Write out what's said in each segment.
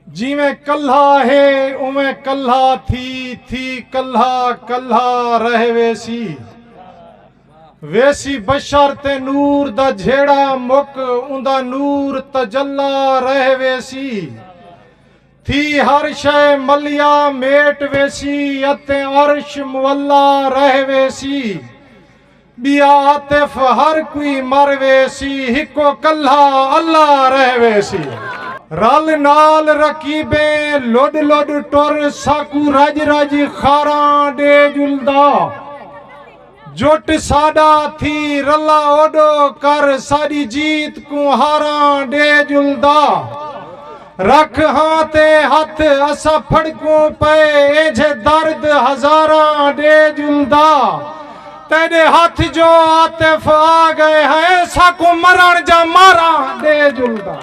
جیویں کلھا ہے اونویں کلھا تھی تھی کلھا کلھا رہ ویسی ویسی بشر تے نور دا جھیڑا مک اوندا نور تجلا رہ ویسی تھی ہر شے ملیا میٹ ویسی اتے عرش مولا رہ ویسی ٻیا عاطف ہر کوئی مر ویسی ہکو کلھا اللہ رہ ویسی۔ رل نال رقیبیں لڈ لڈ ٹر ساکوں رج رج خاراں ڈے جلدا جٹ ساڈا تھی رلا اوڈو کر ساڈی جیت کوں ہاراں ڈے جلدا۔ رکھ ہاں تے ہتھ اسا پھڑکوں پئے اینجھے درد ہزاراں ڈے جلدا تیڈے ہتھ جو عاطف آ گئے ہیں ساکوں مرن جا ماراں ڈے جلدا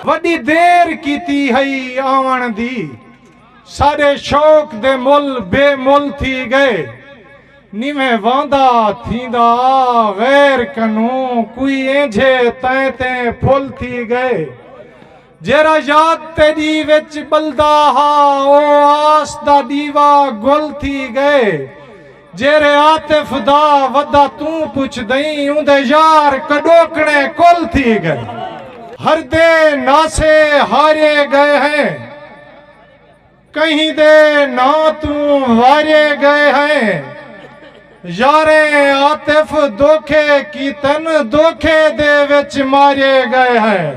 وڈی دیر کیتی ہئی آون دی ساڈے شوق دے مل بے مل تھی گئے نیویں واندا تھیندا آ غیر کنوں کوئی اینجھے تیں تیں پھل تھی گئے جیرھا یاد تیݙی وچ ٻلدا ہا او آس دا ݙیوا گل تھی ڳئے جیرھے عاطف دا ودا توں پچھدئیں اوندے یار کݙوکݨے کل تھی ڳئے ہردے ناسے ہارے ڳئے ہیں۔ کہیں دے ناں توں وارے گئے ہیں یاریں عاطف دوکھے کیتن دوکھے دے وچ مارے گئے ہیں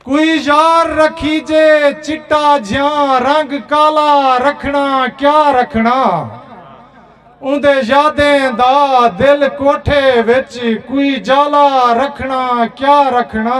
کوئی یار رکھیجے چٹا جھیاں رنگ کالا رکھنا کیا رکھنا اوندے یادیں دا دل کوٹھے وچ کوئی جالا رکھنا کیا رکھنا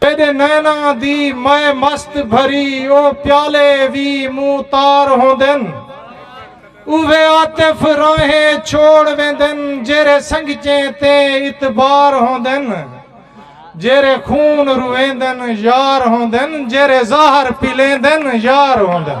تیݙے نیناں دی مئے مست بھری او پیالے وی موں تار ہوندن اوہے عاطف راہیں چھوڑ ویندن جیرھے سنگچیں تے اتبار ہوندن جیرھے خون رویندن یار ہوندن جیرھے زہر پلیندن یار ہوندن۔